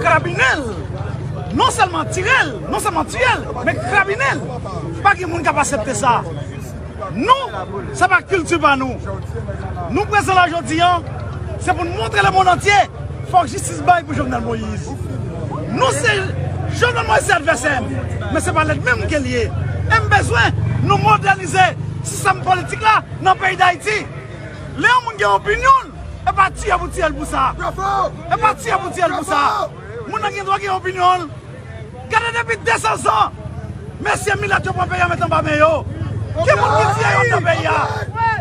Krabinen l! Non sèlman tire l, non sèlman tiye l, men krabinen l! Pa gen moun k ap asepte sa! Nou, sa pa kilti pa nou! Nou prezan la jodi an, se pou n montre lemonn antye, fòk jistis bay pou Jovenel Moïse! Nou se, Jovenel Moïse se advèsè m, men se pa lènmi m ke l ye! E m bezwen nou modènize sistèm politik la nan peyi Dayiti! Lè yon moun gen opinyon l, Epa tiye pou tiyel pou sa. Epa tiye pou tiyel pou sa. Moun nan gen dwa gen opinyon l. Gade depi 200 zan mesye milat yo pran peyi a met anba men yo. Ki moun ki tiye yo anndan peyi a?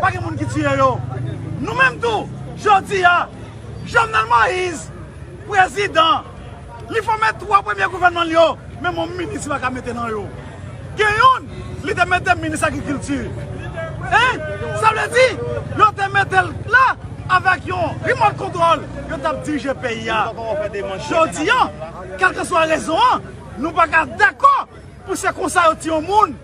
Pa gen moun ki tiye yo. Nou menm tou jodi a Jovenel Moise prezidan. Li fòme 3 premye gouvènman l yo, menm yon minis li pa ka mete nan yo. Gen youn, li te mete minis agrikilti. Hein! Sa vle di, yo te mete l la, avèk yon remote control, yo t ap dirije peyi a. Jodi an, kèlkeswa rezon an, nou pa ka dakò pou se konsa yo tiye yon moun.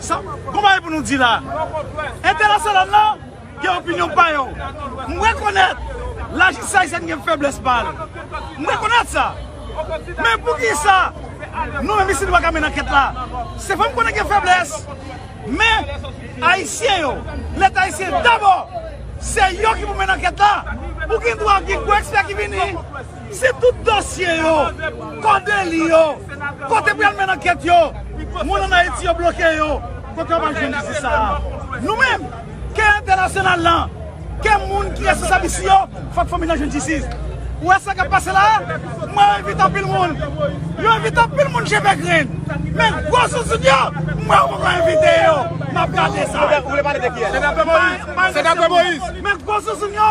Sa bon bagay pou nou di la. Entènasyonal la gen opinyon pa yo. M rekonèt lajistis ayisyèn gen fèblès pa l. M rekonèt sa. Men poukisa nou menm isit nou pa ka mennen ankèt la? Se vre m konnen gen fèblès. Men ayisyen yo, leta ayisyen dabò se yo ki pou mennen ankèt la. Ou gen dwa gen gwo ekspè ki vini. Si tout dosye yo, kò deli yo, kote pou yal menn ankèt yo, moun an Ayiti yo bloke yo, kote yo pral jwenn jistis sa a? Nou menm, ke entènasyonal lan, ke moun ki responsab isi yo, fòk fanmi lan jwenn jistis. Ou wè sa kap pase la a? Mwen envite anpil moun, yo envite anpil moun je fè grenn. Men gwo zouzoun yo, mwen yo poko envite yo. Map gade sa. Ou vle pale de kiyès? Se dapre Moïse. Se dapre Moïse. Men gwo zouzoun yo.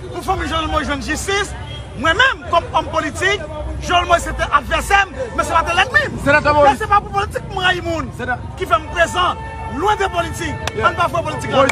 Pou fanmi Joelmoïse jwenn jistis, mwen menm kòm òm politik, Joelmoïse se te advèsè m, men se pa te lènmi m. Men se pa pou politik m rayi moun ki fè m prezan. Lwen de politik, ann pa fouye politik ladan.